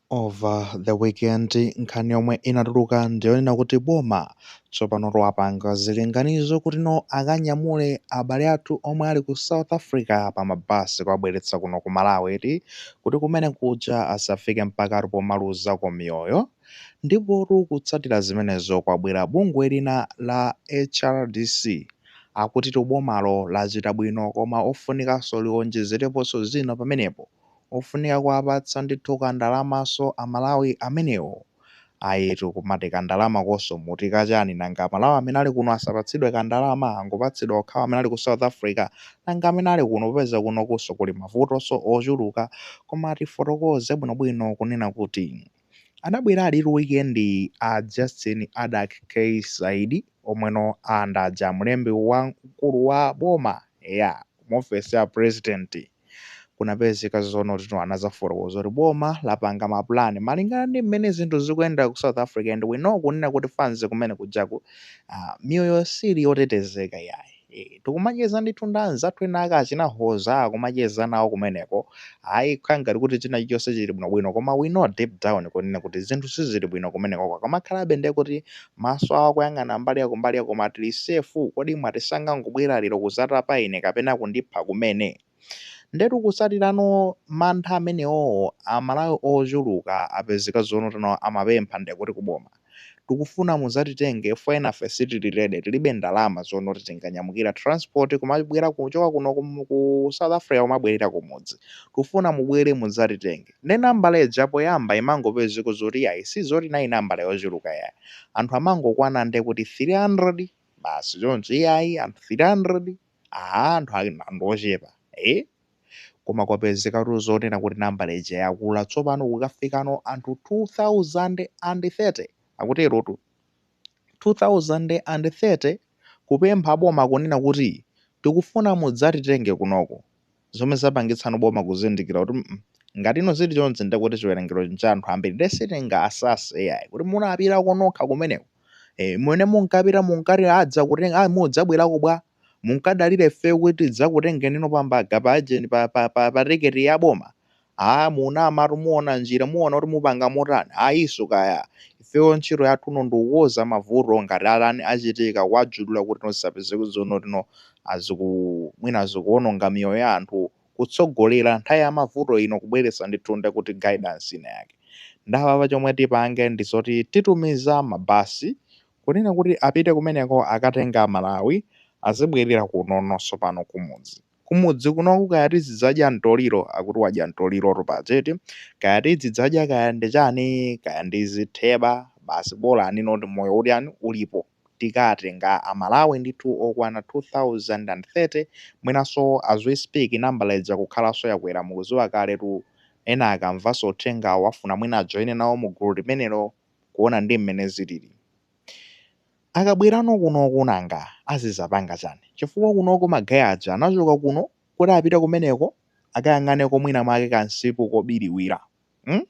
over the weekend nkhani yomwe inatuluka ndiyonena kuti boma tsopano lapanga zilinganizo kuti no akanyamule abale athu omwe ali ku south africa pa mabasi kuwabweretsa kuno ku malawi ti kuti kumene kuja asafike mpaka ati pomaluzako miyoyo ndipotu kutsatira zimenezo kwabwera bungwe lina la hrdc akutitu bomalo lachita bwino koma ofunikanso liwonjezereponso zina pamenepo ofunika kuwapatsa ndithu ka ndalamaso a Malawi amenewo. Ayitu kumati ka ndalamakoso muti ka chani nanga a Malawi amene ali kuno asapatsidwe ka ndalama angopatsidwa okhawo amene ali ku South Africa nanga amene ali kuno popeza kunokuso kuli mavutoso ochuluka koma tifotokoze bwinobwino kunena kuti Anabwera alitu weekend a Justin Adak K Saidi omweno ndi aja mlembi wamkulu wa boma eya ku maofesi a president kunapezeka zonoti no anazafotokoza kuti boma lapanga ma plan malingana ndi mmene zinthu zikuyenda ku South Africa and we know kunena kuti anzathu kumene kujaku ah, miyoyo sili yotetezeka yayi. Eeh tikumacheza ndithu ndi anzathu ena ake achina Hoza akumacheza nawo kumeneko. Ayi kukhala ngati kuti china chilichonse chili bwinobwino koma we know deep down kunena kuti zinthu sizili bwino kumenekoko. Akamakhalabe ndiye kuti maso awo akuyang'ana mbali ya kumbali ya koma tili safe. Kodi mwati sangangobwera lero kudzatapa ine kapena kundipha kumene? Ndiyetu kutsatirano mantha amenewowo Amalawi ochuluka apezeka zonoti no amapempha ndiye kuti kuboma. tikufuna muzatitenge chifukwa enafe sitili ready tilibe ndalama zonoti tinganyamukira transport kumabwera kuchoka kuno kum- ku south africa kumabwerera kumudzi tikufuna mubwere muzatitenge nde nambala ija poyamba imangopezeka zoti yayi si zoti inali nambala yochuluka yayi anthu amangokwana nde kuti 300 basi choncho iyayi anthu 300 aha anthu ali- anthu ochepa eh koma kwapezekatu zonena kuti nambala ija yakula tsopano kukafikano anthu 2030, akuterotu. 2030 kupempha boma kunena kuti tikufuna mudzatitenge kunoko zomwe zapangitsano boma kuzindikira kuti mm ngatino zili chonchi ndekuti chiwerengero ncha anthu ambiri nde sitingasase yayi kuti munapitako nokha kumeneko eh mmene munkapita munkati adzakutenga ah mudzabwerako bwa munkadalira ifeyo kuti tidzakutengeni inu pa mbaga pa agent pa pa pa, pa tiketi ya boma aa munamatu muona njira muona kuti mupanga motani ayiso kaya ifeyo ntchito yathu no ndikukonza mavuto ngati alani achitika kuwajulula kuti no zisapezeke zonoti no aziku mwina azikuononga miyoyo ya anthu kutsogolera nthawi ya mavuto ino kubweretsa ndithu nde kuti guidance ina yake nde apapa chomwe tipange ndizoti titumiza mabasi kunena kuti apite kumeneko akatenge a Malawi azibwerera kunono sopano kumudzi. Kumudzi kunoku kaya tizidzadya mtoliro akuti wadya mtolirotu paja eti, kaya tidzidzadya kaya ndi chani kaya ndi zitheba basi bolani not moyo utiani ulipo tikatenga a Malawi ndithu okwana 2030 mwinanso as we speak nambala ija kukhalanso yakwera mukudziwa kaletu ena akamvanso uthengawu afuna mwina ajoine nawo mu gulu limenelo kuona ndi mmene zilili. Akabwerano kunoku nanga azizapanga chani? Chifukwa kunoko ma gay aja anachoka kuno kuti apite kumeneko akayang'aneko mwina mwake ka nsipu kobiliwira. Hmm?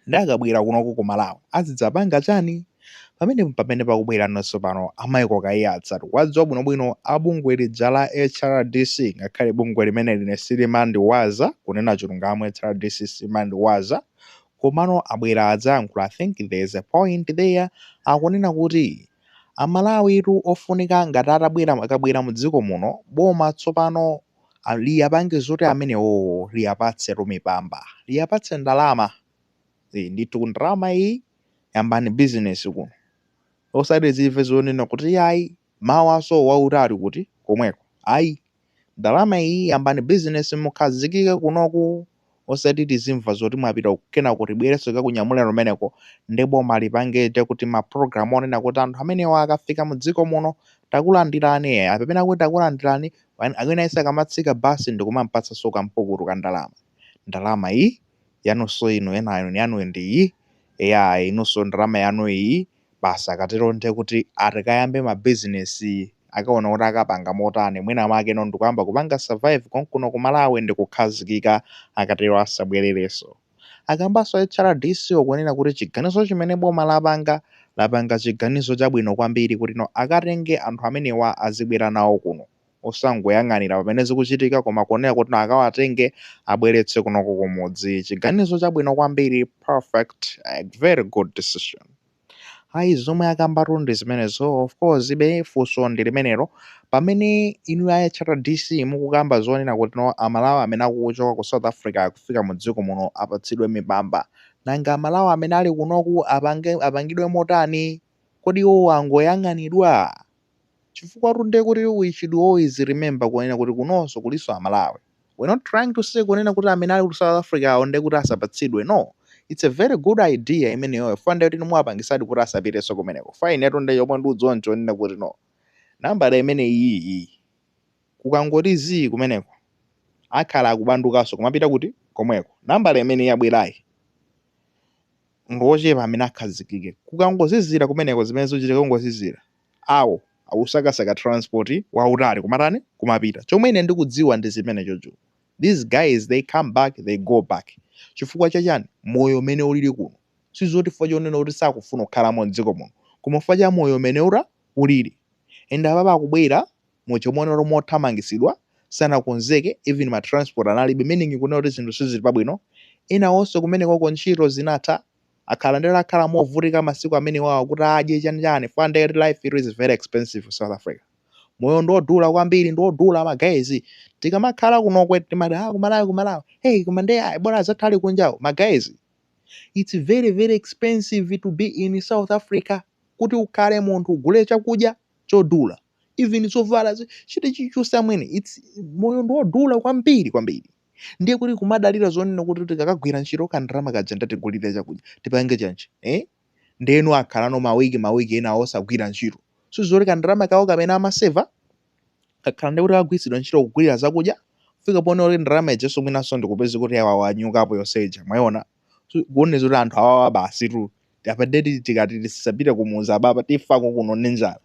Nde akabwera kunoku ku Malawi azidzapanga chani? Pamenepo mpamene pakubwerano tsopano a Michael Kaiyatsa tiwadziwa bwinobwino a bungwe lija la HRDC ngakhale bungwe limeneli ine silimandiwaza, kunena chilungamo HRDC simandiwaza Komano abwera adzayankhula I think there is a point there akunena kuti amalawitu ofunika ngati atabwera akabwera mu dziko muno boma tsopano liwapange zoti amenewowo liwapatsetu mipamba liwapatse ndalama ndithu ndalama iyi yambani business kuno osati tizimve zonena kuti ayi Mawaso wauta uli kuti? Komweko ayi ndalama iyi yambani business mukhazikike kunoku osati tizimva zoti mwapita uku kenako tibwerenso tikakunyamuleni kumeneko nde boma lipange kuti ma program onena kuti anthu amenewa akafika mu dziko muno takulandirani eya pamene akuti takulandirani aliyense akamatsika bus ndikumampatsanso kampukutu ka ndalama ndalama iyi yanunso inu ena inu yanuyi ndi iyi eya inunso ndalama yanu iyi basi akatero ndiye kuti akayambe ma business akaona kuti akapanga motani mwina mwake no ndikuyamba kupanga survive konkuno ku Malawi ndikukhazikika akatero asabwerereso. Akambaso a HRDC wo kunena kuti chiganizo chimene boma lapanga lapanga chiganizo chabwino kwambiri kuti no akatenge anthu amenewa azibwera nawo kuno. osangoyang'anira pamene zikuchitika koma kuonera kuti akawatenge abweretse kunoko kumudzi chiganizo chabwino kwambiri perfect eh, very good decision ayi zomwe akambatu ndi zimenezo of course komabe funso ndi limenelo pamene inu a hrdc mukukamba zonena kuti no amalawi amene akuchoka ku south africa akufika mu dziko muno apatsidwe mipamba nanga amalawi amene ali kunoku apangidwe motani kodi iwo angoyang'anidwa? Chifukwatu nde kuti we should always remember kunena kuti kunonso kulinso amalawi, we're not trying to say kunena kuti amene ali ku south africawo nde kuti asapatsidwe no, it's a very good idea imeneyoyo fukwa nde kuti inu muwapangisadi kuti asapitenso kumeneko fukwa inetu nde chomwe ndikudziwa nchonena kuti no nambala imeneyiyi kukangoti zii kumeneko akhala akubandukanso kumapita kuti? komweko nambala imene yabwerayi. ndi ochepa amene akhazikike. Kukangozizira kumeneko zimene zizachitika kungozizira, ayi akusakasaka transport wautali kumatani kumapita. Chomwe ine ndikudziwa ndi chimenecho cho. These guys they come back they go back. Chifukwa cha chani? Moyo umene ulili kuno. Sizoti chifukwa chonena kuti sakufuna kukhalamo m'dziko muno. Koma chifukwa cha moyo umene uta ulili. And apapa akubwera mu chomwecho mothamangitsidwa sanakonzeke even ma transport analibe meaning kunena kuti zinthu sizili pabwino enawonso kumenekoko ntchito zinatha akhala ndi akhala movutika masiku amenewawa kuti adye chani chani fun ndiye kuti life it is very expensive ku south africa moyo ndiodula kwambiri ndiodula magayezi tikamakhala kunokwe timati ah kumalawi kumalawi hey koma ndiye ayi bora azathu ali kunjawo magayezi it's very very expensive to be in south africa kuti ukhale munthu ugule chakudya chodula even zovala zi- chiti chilichonse amwene it's moyo ndi wodula kwambiri kwambiri ndiye kuti kumadalira zonena kuti tikakagwira ntchito kandalama kaja ndatigulire chakudya tipange chani eh? ndeno akhalano mawiki mawiki ena osagwira ntchito sizoti kandalama kawo kamene amaseva kakhala ndi kuti kagwiritsidwa ntchito kugulira zakudya kufika poti ndalama ijenso mwinanso ndikupeza kuti awa wanyukapo yonse ija mwayiona Zikuonetsa kuti anthu awawa basitu apa ndiye kuti tikati tisapite kumudzi apapa tifa kuno ndi njala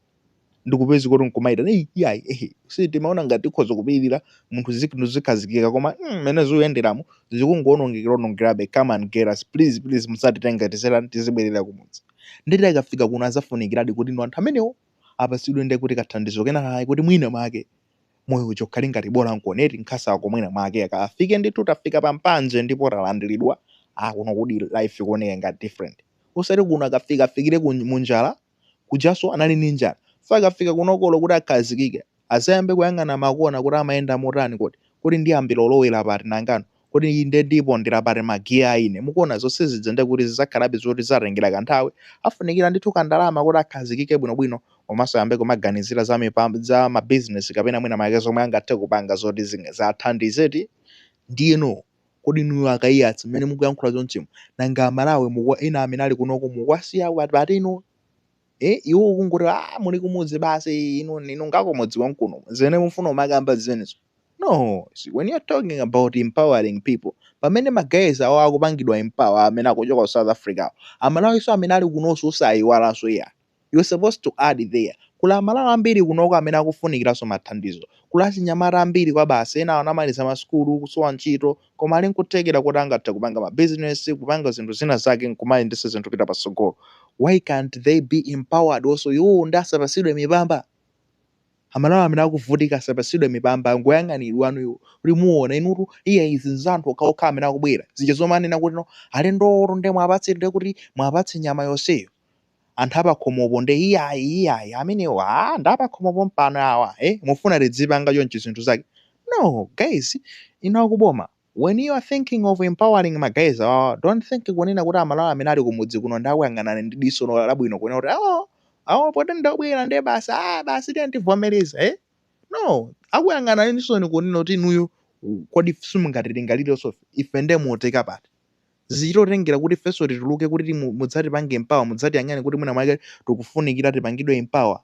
ndikupeza kuti nkumaitana "Ei, iyayi ehe si timaona ngati tikhoza kupirira mwina zinthu zikhazikika koma mm, mmene zikuyenderamu zikungoonongekera onongekerabe come and get us please please muzatitenge tizitani tizibwerera kumudzi ndiye akafika kuno azafunikiradi kuti anthu amenewo apasidwe ndiye kuti kathandizo kenakake kuti mwina mwake moyo uja ukhale ngati bola mukuona eti nkhawa zako mwina mwake akafike ndithu tafika pa mpanje ndipo talandilidwa ah kuno kuti life ikuoneka ngati different osati kuno akafika afikire munjala kujaso anali ndi njala so akafika kunokolo kuti akhazikike azayambe kuyang'ana makona kuti amayenda motani kodi kodi ndiyambira kulowera pati nangano Kodi inde ndipondera pati ma gear a ine? Mukuona zonsezija ndiye kuti zizakhalabe zoti zizatengera kanthawi, afunikira ndithu ka ndalama koti akhazikike bwino bwino komanso ayambe kumaganizira za mipamb, za ma business kapena mwina mwake zomwe angathe kupanga zoti zing, ziathandize eti? Ndiyeno kodi inuyo a Kaiyatsa mmene mukuyankhula chonchimu, nanga a Malawi mukuwa, ena amene ali kunoko mukuwasiya pati inu? Eh, iwo kungoti aah muli kumudzi basi inu, inu ngakumudzi konkuno, zimene mufuna kumakamba zimenezo. No when you're talking about empowering people pamene ma guys awo akupangidwa empower amene akuchoka ku South Africa awo, Amalawiso amene ali kunoso osaiwalaso iyayi, you're supposed to add there kuli Amalawi ambiri kunoko amene akufunikilaso ma thandizo, kuli achinyamata ambiri kwabasi ena anamaliza ma sukulu kusowa ntchito koma ali nkuthekela koti angathe kupanga ma business, kupanga zinthu zina zake nkumayendesa zinthu kupita patsogolo why can't they be empowered also iwowo nde asapasidwe mipamba? Amalawi amene akuvutika asapatsidwe mipamba nkuyang'ana anawo kuti muona inutu iya izi nza anthu okhaokha amene akubwera zija zomanena kuti no alendowotu nde mwapatse nde kuti mwapatse nyama yonseyo anthu apakhomopo nde iyayi iyayi amenewo aa nda apakhomo pompano awa e mufuna tidzipanga chonchi zinthu zake no guys inu akuboma When you are thinking of empowering ma guys awawa don't think kunena kuti a Malawi amene ali kumudzi kuno nde akuyang'ana ndi diso labwino kunena kuti awo awo poti ndi obwera nde basi aah basi tiyeni tivomereze eh no akuyang'ana ndi chisoni kunena kuti inuyo kodi simungatilingalirenso ife nde mutika pati zichitotengera kuti ifenso tituluke kuti timu- mudzatipange empower mudzatiyang'ane kuti mwina mwake tikufunikira tipangidwe empower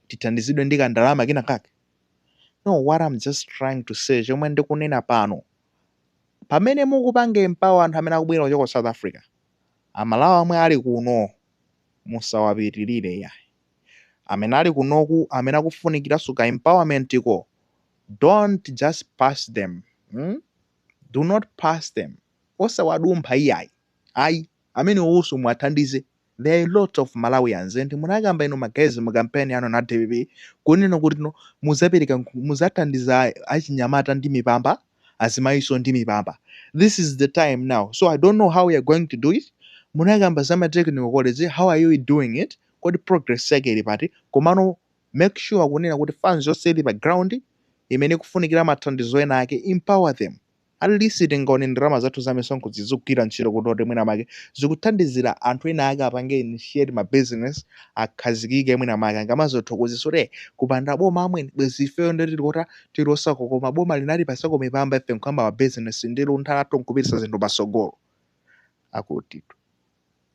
tithandizidwe ndi kandalama kena kake No, what I'm just trying to say, chomwe ndikunena pano, pamene mukupanga empower anthu amene akubwera kuchoka ku South Africa, amalawi amwe ali kuno musawapitirire iyayi amene ali kunoku amene akufunikiranso ka empowerment ko don't just pass them hmm? do not pass them osawadumpha iyayi ayi amenewowonso muwathandize there are a lot of Malawians and munakamba inu ma guys mu campaign yanu a dpp kunena kuti no muzapereka nkhu muzathandiza achinyamata ndi mipamba azimayinso ndi mipamba this is the time now so I don't know how you are going to do it munakamba za ma technical college how are you doing it kodi progress yake ili pati komano make sure kunena kuti fans yonse ili pa ground imene ikufunikira mathandizo ena ake empower them At least tingaone ndalama zathu za misonkho zizigwira ntchito kuti oti mwina mwake zikuthandizira anthu ena ake apange initiate ma business akhazikike mwina mwake angamadzathokoze kuti eh kupanda boma amwene bwezi ifeyo nde tili kota tili osauka koma boma linatipasako mipamba ife nkuyamba ma business ndi luntha lathu nkupititsa zinthu patsogolo. Akutitu.